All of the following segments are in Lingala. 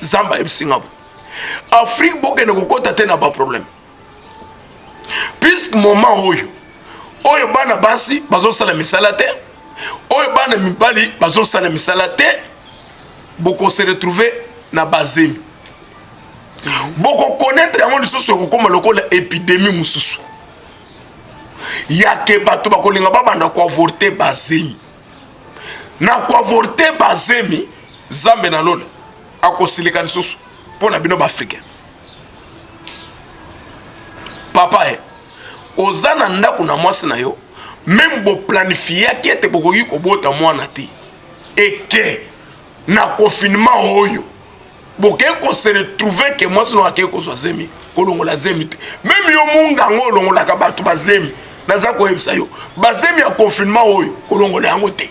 zamba ayebisi nga bo afrique bokende kokɔta te na baproblème puisque moment oyo oyo bana basi bazosala misala te oyo bana mibali bazosala misala te bokose retrouve na bazemi bokokonetre yango lisusu ekokoma lokola epidemie mosusu yake bato bakolinga babanda koavorte bazemi na koavorte bazemi zambe na lola akosilika lisusu mpo na bino baafricain papa e oza na ndako na mwasi na yo meme boplanifiaki ete bokoki kobota mwana te eke na confinement oyo bokei ko se retrouver ke mwasi no akei kozwa zemi kolongola zemi te meme yo munganga olongolaka bato bazemi naza koyebisa yo bazemi ya confinement oyo kolongola yango te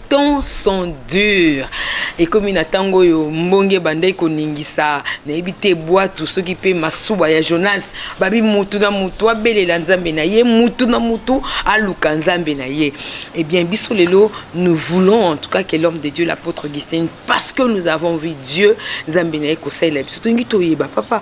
temps sont durs ekomi na ntango oyo mbonge ebandaki koningisa nayebi te bwatu soki mpe masuba ya jonas babi mutu na mutu abelela nzambe na ye mutu na mutu aluka nzambe na ye ebien eh biso lelo nous voulons en tout cas que l'homme de dieu l'apôtre augustin parce que nous avons vu dieu nzambe na ye kosalela biso tolingi toyeba papa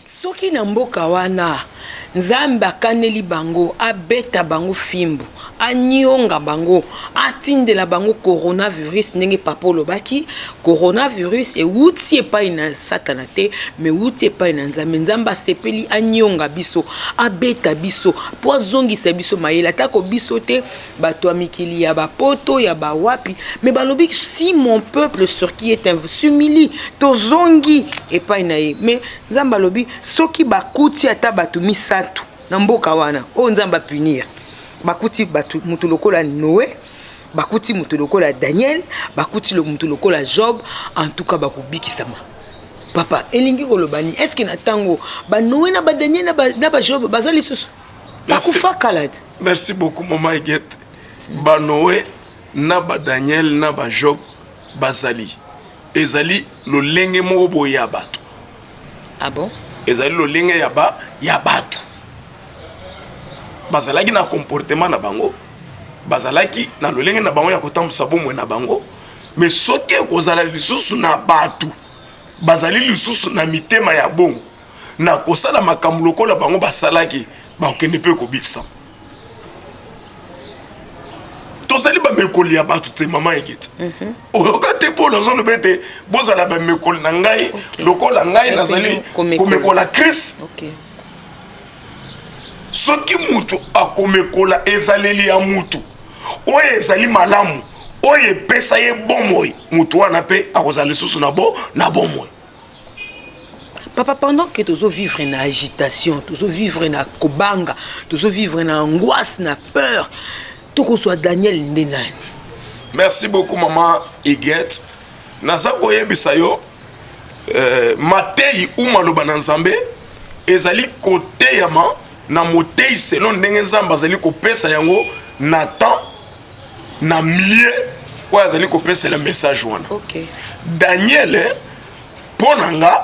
Soki na mboka wana Nzambe akaneli bango, abeta bango fimbu, anyonga bango, atindela bango coronavirus ndenge papa olobaki, coronavirus ewuti epai na satana te, me wuti epai na Nzambe. Nzambe asepeli anyonga biso, abeta biso, po azongisa biso mayele, atako biso te bato ya mikili ya bapoto ya bawapi me balobi si mon peuple sur qui est sumili tozongi epai na ye me nzambe alobi soki bakuti ata bato misato na mboka wana oyo nzambe apunir bakuti bato moto lokola noe bakuti moto lokola daniel bakuti moto lokola job en tout cas bakobikisama papa elingi koloba nini estce na ntango banoe na badaniel na bajob baza lisusu akufa kala te merci beaucoup mama egete banoe na badaniel na bajob bazali ezali lolenge moko boye ya bato ah bon? ezali lolenge ya ba ya bato bazalaki na comportement na bango bazalaki na lolenge na bango ya kotambwisa bomoi na bango me soki ekozala lisusu na bato bazali lisusu na mitema ya bongo na kosala makambo lokola bango basalaki bakokende mpe kobikisama tozali bamekoli ya bato te mama egeti mhm. oyoka te mpo nazoloba ete bozala bamekoli na ngai lokola ngai nazali komekola krist soki moto akomekola ezaleli ya moto oyo ezali malamu oyo epesa ye bomoi moto wana mpe akozala lisusu na bo na bomoi papa pendant que tozo vivre na agitation tozo vivre na kobanga tozo vivre na angoisse na peur tokozwa daniel nde nani merci beaucoup maman igete naza koyebisa yo euh, mateyi u maloba na nzambe ezali koteyama na moteyi selon ndenge nzambe azali kopesa yango na temps na milieu oyo azali kopesela message wana okay. daniele mpo na nga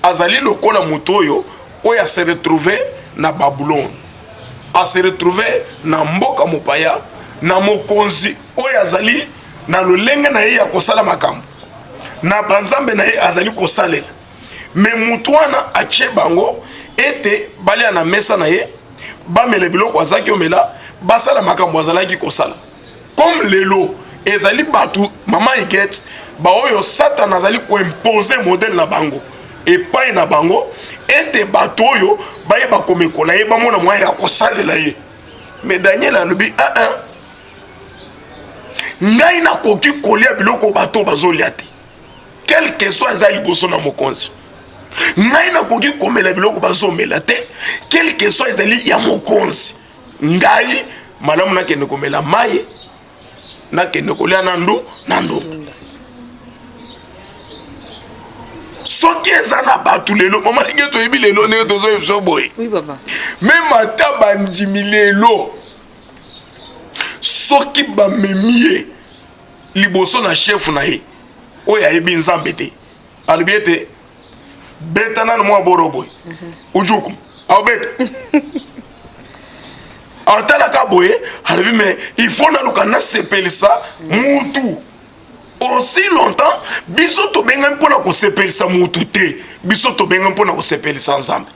azali lokola moto oyo oyo ase retrouve na babulone ase retrouve na mboka mopaya na mokonzi oyo azali na lolenge na ye ya kosala makambo na banzambe na ye azali kosalela me motu wana atye bango ete balia na mesa na ye bamela biloko azalaki omela basala makambo azalaki kosala comme lelo ezali bato mama igete baoyo satana azali koimpose modele na bango epai na bango ete bato oyo bayeba komekola ye bamona moyen ya kosalela ye me daniel alobi aa ah, ah. ngai nakoki kolia biloko bato bazolia te quelque soit aza liboso na mokonzi ngai nakoki komela biloko bazomela te quelque soit ezali ya mokonzi ngai malamu nakende komela mai nakende kolia na ndu na ndunda soki eza na bato lelo mama ndenge toyebi lelo ndenge tozoyebisa boye meme ata bandimi lelo soki bamemi ye liboso na chef na ye oyo ayebi nzambe te alobi ete beta nano mwa boro boye mhm. ujuku aobeta atalaka boye alobi me il faut naluka nasepelisa mutu aussi longtemps biso tobengami mpo na kosepelisa mutu te biso tobengami mpo na kosepelisa nzambe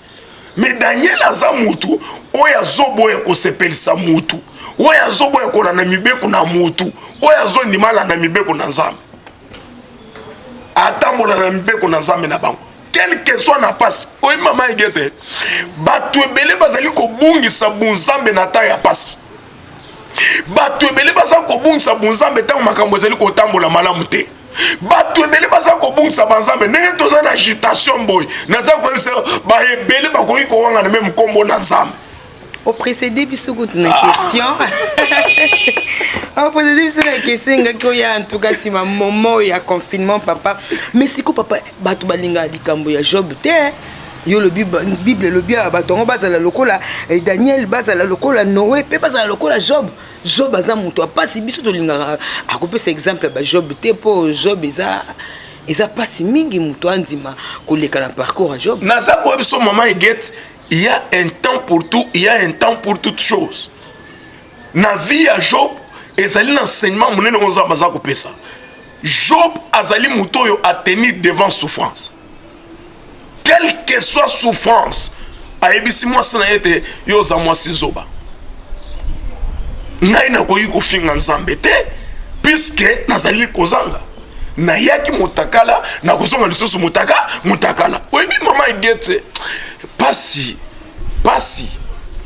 me daniel aza mutu oyo azoboya kosepelisa mutu oyo azoboya kolanda mibeko na mutu oyo azondima alanda mibeko na nzambe atambola na mibeko na nzambe na bango quelque soit na pasi oyebi mama egete bato ebele bazali kobungisa bonzambe na ntango ya pasi bato ebele baza kobungisa bonzambe ntango makambo ezali kotambola malamu te bato ebele baza kobungisa banzambe ndenge toza na agitation boye naza koyebisa baebele bakoki kowangana me mokombo na nzambe oprecede biso kutu na ah. question oprecede biso na question engaki oya antuka nsima momo ya confinement papa mais siko papa bato balinga likambo ya job te yo lobi bible elobi ya bato yango bazala lokola eh, daniel bazala lokola noe mpe bazala lokola job job aza moto ya mpasi biso tolingaka akopesa exemple ya bajob te mpo job eza eza mpasi mingi moto andima koleka na parcours ya job naza koyebi so mama egete il y a un temps pour tout il y a un temps pour toute chose na vie ya job ezali na enseignement monene oyo nzambe aza kopesa job azali moto oyo atenir devant souffrance quelle que soit souffrance ayebisi mwasi na ye ete yo oza mwasi zoba ngai nakoki kofinga nzambe te puiske nazali kozanga nayaki motakala nakozonga lisusu motaka motakala oyebi mama egete pasi pasi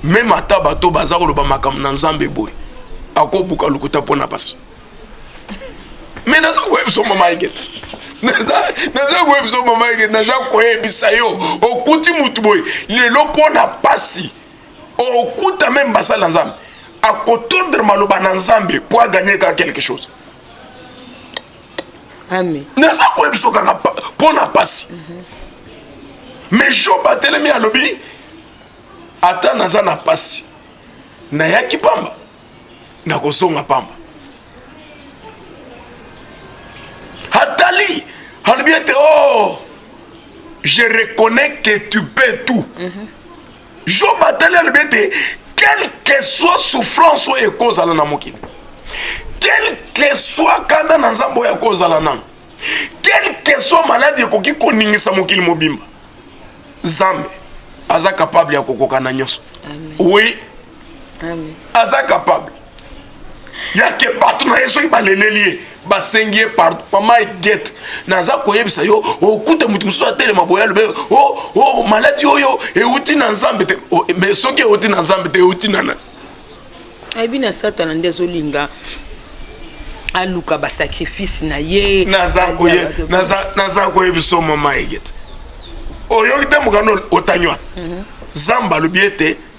meme ata bato baza koloba makambo na nzambe boye akobuka lokuta mpo na pasi me naza koyebisa mama ingeta naza koyebisa mama ingeta naza koyebisa yo okuti motu boye lelo mpo na mpasi okuta meme basali na nzambe akotondre maloba na nzambe mpo aganye kaka quelque chose naza koyebisa kaka mpo na mpasi me job atelemi alobi ata naza na mpasi nayaki pamba nakozonga pamba atali alobi ete o oh, je reconnais que tu peux tout mm -hmm. job atali alobi ete quelque soit souffrance oyo ekozala na mokili quelque soit kanda na nzambe oyo akozala nano quelque soit maladi ekoki koningisa mokili mobimba zambe aza kapable ya kokokana nyonso oui aza capable yake bato na ye soki baleleli ye basengi ye pardon mama egete naza koyebisa yo okute moto mosusu atelema boye alobe o oh, o oh, maladi oyo euti na nzambe te oh, mais soki euti na nzambe te euti na nani ayebi na satana nde azolinga aluka basacrifice na ye naza koyebisa yo mama egete oyoki te mokano otangi wana mhm. zamba alobi ete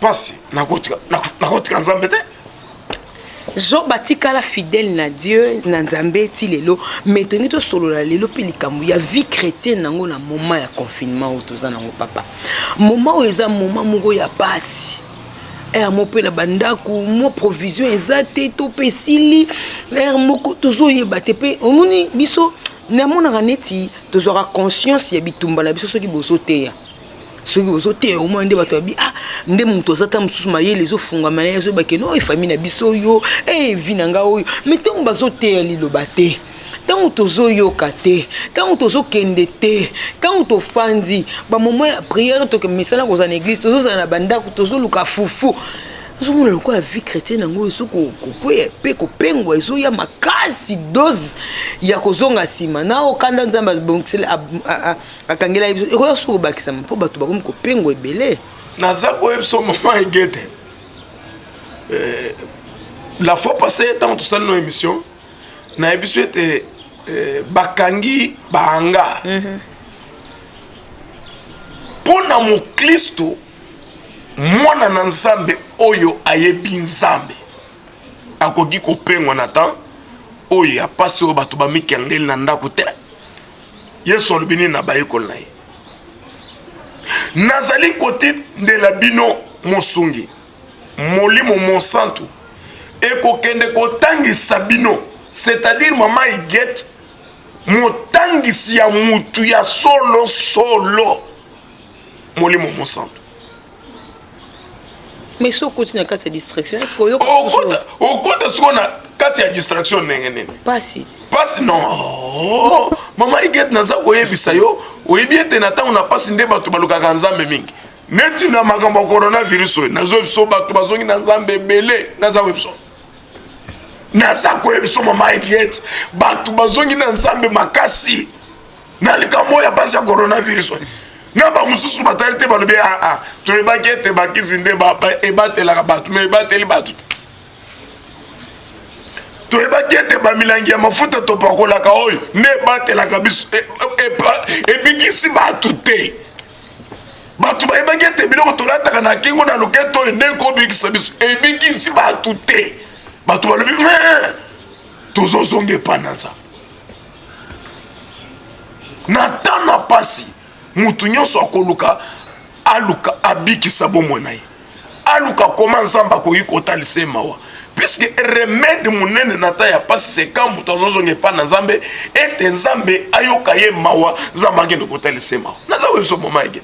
pasi nakotika nakotika nzambe te job atikala fidèle na dieu na nzambe ti lelo mai tolingi tosolola lelo mpe likambo ya vie chrétienne yango na moment ya confinement oyo toza nango papa moment oyo eza moment moko ya pasi ere moko mpe na bandako mwa provision eza te to mpe esili ere moko tozoyeba te mpe omoni biso namonaka neti tozwaka conscience ya bitumba na biso soki bozoteya soki ozoteya omoi nde bato babi ah nde moto aza ta mosusu mayele ezofungwama na ye ezobake no efami na biso oyo evi eh, na nga oyo mai ntango bazoteya liloba te ntango tozoyoka te ntango tozokende te ntango tofandi bamoment ya priere toke misala kozala na eglise tozozala na bandako tozoluka fufu ozomona lokola vie chrétienne yango ezo kokwea mpe kopengwa ezoya makasi dose ya kozonga nsima na okanda nzambe akangelaki biso ekoya suku bakisama mpo bato bakomi kopengo ebele naza koyebiso mama egete eh, la fois passé ntango tosali no émission nayebi biso ete eh, bakangi bahangar mhm. mpo na moklisto mwana na nzambe oyo ayebi nzambe akoki kopengwa na temps oyo ya mpasi oyo bato bamikengeli na ndako te Yesu alobi nini na bayekoli na ye? Nazali kotindela bino mosungi, Molimo Mosantu ekokende kotangisa bino, c'est-à-dire mama Igete, motangisi ya mutu ya solo solo, Molimo Mosantu. mais soki okoti na kati ya distraction eske oyoka okota siko na kati ya distraction ndenge nini pasi pasi non oh, mama iget naza koyebisa yo oyebi ete na ntango na pasi nde bato balukaka nzambe mingi neti na makambo ya coronavirus oyo nazo biso bato bazongi na nzambe ebele naza koyebiso naza koyebiso mama iget bato bazongi na nzambe makasi na likambo oyo ya mpasi ya coronavirus oyo na bamosusu batali te balobi aa ah, ah, toyebaki ete bakisi nde ebatelaka bato ma ebateli bato te toyebaki ete bamilangi ya mafuta topakolaka oyo nde ebatelaka biso e, e, e, ebikisi bato te bato bayebaki ete biloko tolataka na kingo na loketo oyo nde ekobikisa biso ebikisi bato te bato balobi tozozonga epai na nzambe na temps na pasi mutu nyonso akoluka aluka abikisa bomoi na ye aluka koma nzambe akoki kotalisa ye mawa puisque remede monene na ta ya pasi seka moto azozonga epai na nzambe ete nzambe ayoka ye mawa nzambe akende kotalisa ye mawa naza koyebiso moma ege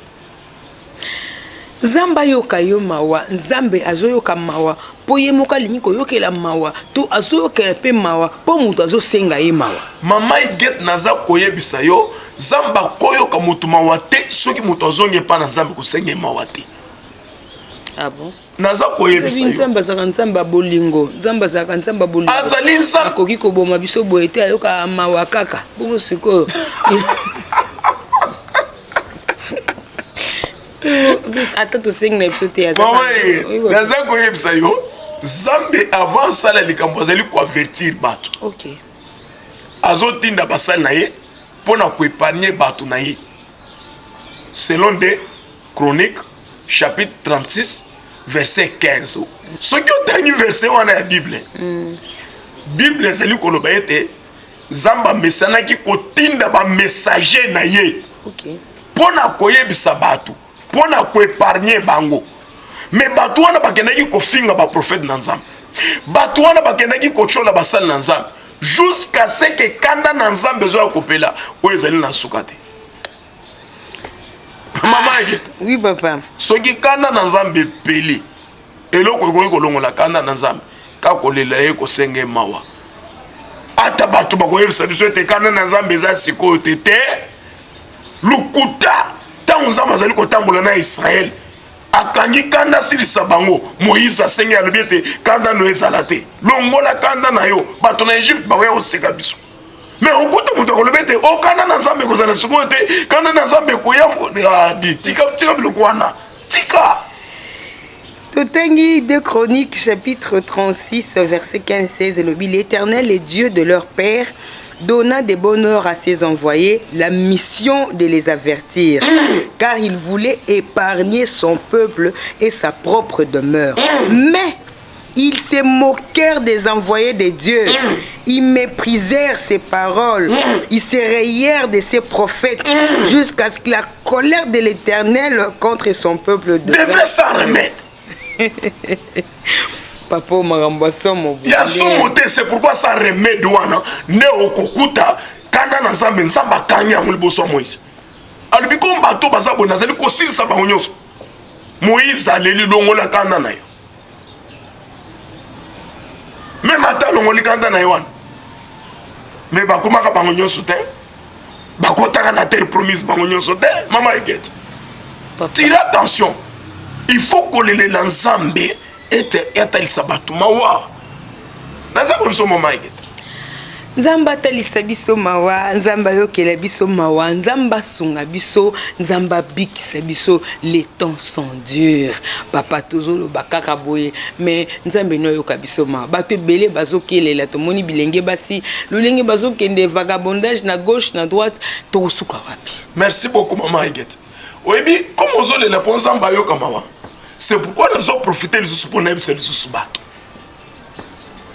Nzambe ayoka yo mawa, Nzambe azoyoka mawa mpo ye moko alingi koyokela mawa to azoyokela mpe mawa mpo moto azosenga ye mawa. Mama Igete, naza koyebisa yo Nzambe akoyoka moto mawa te soki moto azongi epai na Nzambe kosenga ye mawa te. Ah bon? naza koyebisa nzambe azalaka nzambe ya bolingo nzambe azalaka nzambe ya bolingo azali nzambe akoki koboma biso boye te ayoka mawa kaka bongo sikoyo ata tosengi na biso te naza koyebisa yo nzambe avant asala likambo azali koavertir bato okay. azotinda basali na ye mpo na koepanie bato na ye selon nde Chronique chapitre 36 verset 15. Soki otangi verset wana ya Bible, mm. Bible ezali koloba ete Nzambe amesanaki kotinda ba messager na ye okay. mpo na koyebisa bato mpo na koepargne bango me bato wana bakendaki kofinga baprofete na nzambe bato wana bakendaki kotyola basali na nzambe jusqu'à ce que kanda na nzambe ezoya kopela oyo ezali na nsuka te mama ah, oui papa soki kanda na nzambe epeli eloko ekoki kolongola kanda na nzambe kaka kolela ye kosenga ye mawa ata bato bakoyebisa biso ete kanda na nzambe eza sikoyo te te lokuta ntango nzambe azali kotambola na israele akangi kanda asilisa bango moïse asengi alobi ete kanda no ezala te longola kanda na yo bato na egypte bakoya koseka biso me okuta moto akoloba ete okana oh, na nzambe ekozala sikoyo te kana na nzambe ekoya ah, tika tika biloko wana tika totangi de chronique chapitre 36 verset 15 16 elobi l'éternel est dieu de leur père donna des bonheurs à ses envoyés la mission de les avertir, car il voulait épargner son peuple et sa propre demeure. Mais Ils se moquèrent des envoyés de Dieu. Ils méprisèrent ses paroles. Ils se rayèrent de ses prophètes jusqu'à ce que la colère de l'Éternel contre son peuple devait s'en remettre. papa oyo makambo ya somo ya somo te c'est pourquoi sa remede wana nde okokuta kanda na nzambe nzambe akangi yango liboso ya moïse alobi ko bato baza boye nazali kosilisa bango nyonso moïse aleli longola kanda na yo meme ata alongoli kanda na ye wana me bakomaka bango nyonso te bakotaka na terre promise bango nyonso te mama egete tira attention il faut kolelela nzambe ete atalisa bato mawa naza ko biso mama ege nzambe atalisa biso mawa nzambe ayokela biso mawa nzambe asunga biso nzambe abikisa biso les temps sont durs papa tozoloba kaka boye mais nzambe no ayoka biso mawa bato ebele bazokelela tomoni bilenge basi lolenge bazokende vagabondage na gauche na droite tokosuka wapi merci beaucoup mama egete oyebi comme ozolela mpo nzambe ayoka mawa c'est pourquoi nazoprofite lisusu mpo nayebisa lisusu bato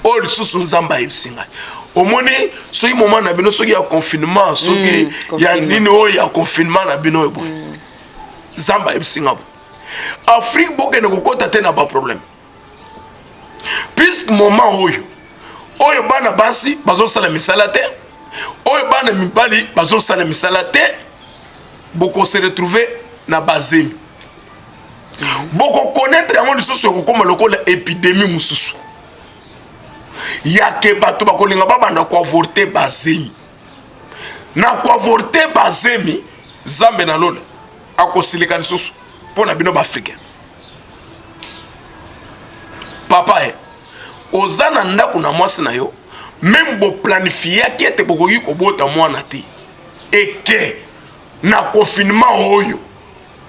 oyo lisusu nzambe ayebisi ngai omoni soki moma na bino soki ya confinement soki mm, ya nini oyo ya confinement na bino oyo boye mm. nzambe ayebisi ngai boye afrique bokende kokɔta te na baproblème puisque moma oyo oyo bana basi bazosala misala te oyo bana mibali bazosala misala te bokose retrouve na bazemi bokokonetre yango lisusu ekokoma lokola epidemi mosusu yake bato bakolinga babanda koavorte bazemi na koavorte bazemi zambe na lola akosilika lisusu mpo na bino baafricain papa e oza na ndako na mwasi na yo meme boplanifiaki ete bokoki kobota mwana te eke na confinement oyo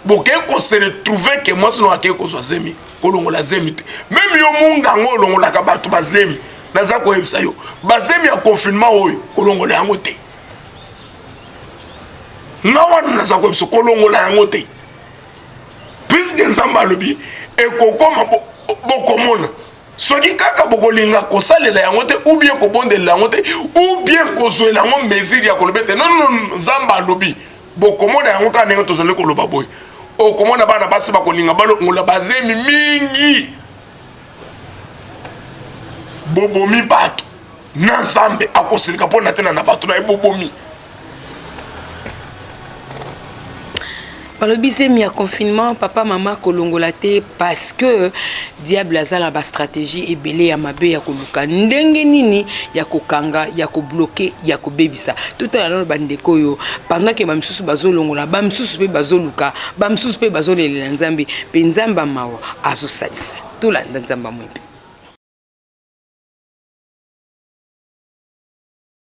bokeyi ko se retrouver ke mwasi nao akei kozwa zemi kolongola zemi te meme yo munganga olongolaka bato bazemi naza koyebisa yo bazemi ya confinement oyo kolongola yango te nga wana naza koyebisa kolongola yango te puiske nzambe alobi ekokoma bokomona bo soki kaka bokolinga kosalela yango te ou bien kobondelela yango te ou bien kozwela yango mesure ya koloba ete nonono nzambe alobi bokomona yango kaka ndenge tozali koloba boye okomona bana basi bakolinga balongola bazemi mingi bobomi bato na nzambe akosilika mpo na tena na bato na ye bobomi balobi zemi ya confinement papa mama kolongola te parce que Diable aza na ba strategie ebele ya mabe ya koluka ndenge nini ya kokanga ya kobloke ya kobebisa totala nano bandeko oyo pendant ke bamisusu bazolongola bamisusu mpe bazoluka bamisusu mpe bazolelela nzambe mpe nzambe mawa azosalisa tolanda nzambe amwimpe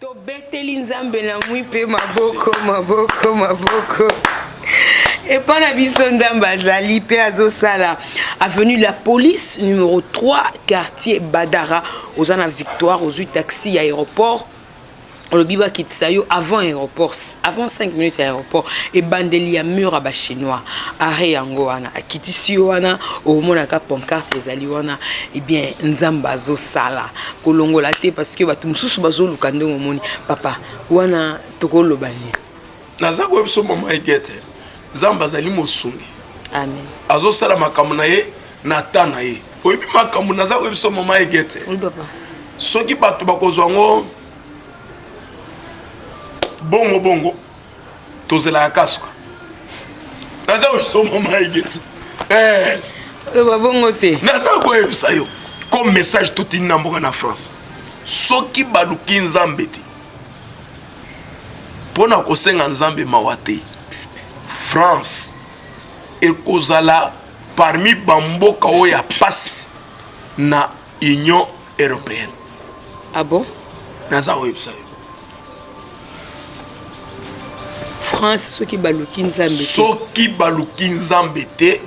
Tobeteli Nzambe na mwi mpe maboko maboko maboko epa na biso nzambe azali mpe azosala avenue la police numero 3 quartier badara oza na victoire ozwi taxi ya aéroport olobi bakitisa yo avant aéroport avant 5 minutes ya aéroport ebandeli ya mur ya bachinois arret yango wana akitisi yo wana omonaka pancarte ezali wana ebien eh nzambe azosala kolongola te parce que bato mosusu bazoluka ndenge omoni papa wana tokoloba nini naza koyeba biso mama egete nzambe azali mosungi amen azosala makambo na ye na ta na ye oyebi makambo naza koyeba biso mama egete soki bato bakozwa yango bongo bongo tozelaka kasuka naza kosomba mai geti eh. loba bongo te naza koyebisa yo comme message totindi na mboka na france soki baluki nzambe te mpo na kosenga nzambe mawa te france ekozala parmi bamboka oyo ya mpasi na union européenne ah bon naza oyebisa yo france soki baluki nzambe soki baluki nzambe te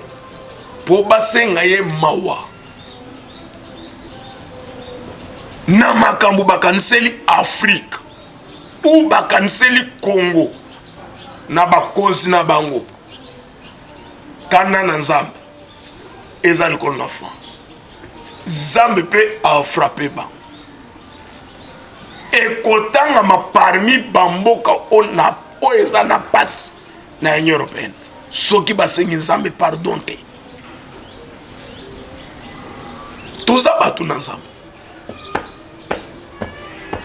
mpo basenga ye mawa na makambo bakaniseli afrike ou bakaniseli congo na bakonzi na bango kanda na nzambe eza likolo na france nzambe mpe afrape bango ekotangama parmi bamboka oyo eza na mpasi na union européenne soki basengi nzambe pardon te toza bato na nzambe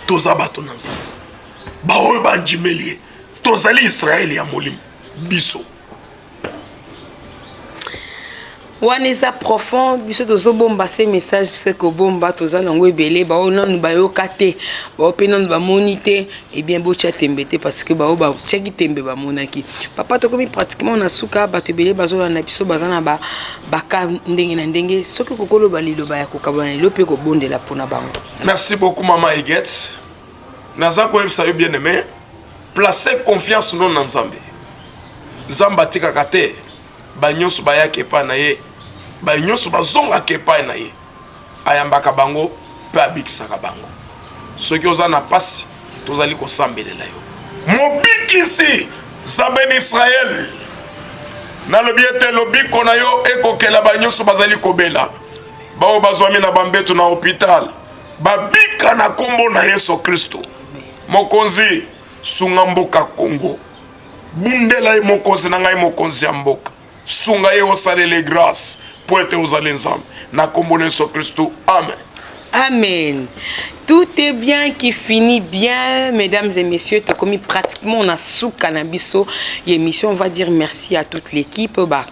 toza bato na nzambe baoyo bandimeli ye tozali israele ya molimo biso wana eza profond biso tozobomba se message se kobomba toza nango ebele baoyo nanu bayoka te baoyo mpe nanu bamoni te ebien eh botya tembe te parce que baoyo batyaki tembe bamonaki papa tokomi pratiquement na suka bato ebele bazolanda biso baza na baka ndenge na ndenge soki kokoloba liloba ya kokabana lelo mpe kobondela mpona bango merci beaucoup mama eget naza koyebisa yo bien aime place confiance no na nzambe nzambe atikaka te banyonso bayaka epai na ye baye nyonso bazongaka epai na ye ayambaka bango mpe abikisaka bango soki oza na mpasi tozali kosambelela yo mobikisi nzambe na israele nalobi ete lobiko na yo ekokela banyonso bazali kobela baoyo bazwami na bambeto na hopitale babika na kombo na yesu kristo mokonzi sunga mboka congo bundela ye mokonzi na ngai mokonzi ya mboka sunga ye osalele grace mpo ete ozali nzambe na kombo na yesu kristo amen Amen. Tout est bien qui finit bien, mesdames et messieurs. T'as commis pratiquement on a sous cannabis. L'émission, on va dire merci à toute l'équipe. Bah,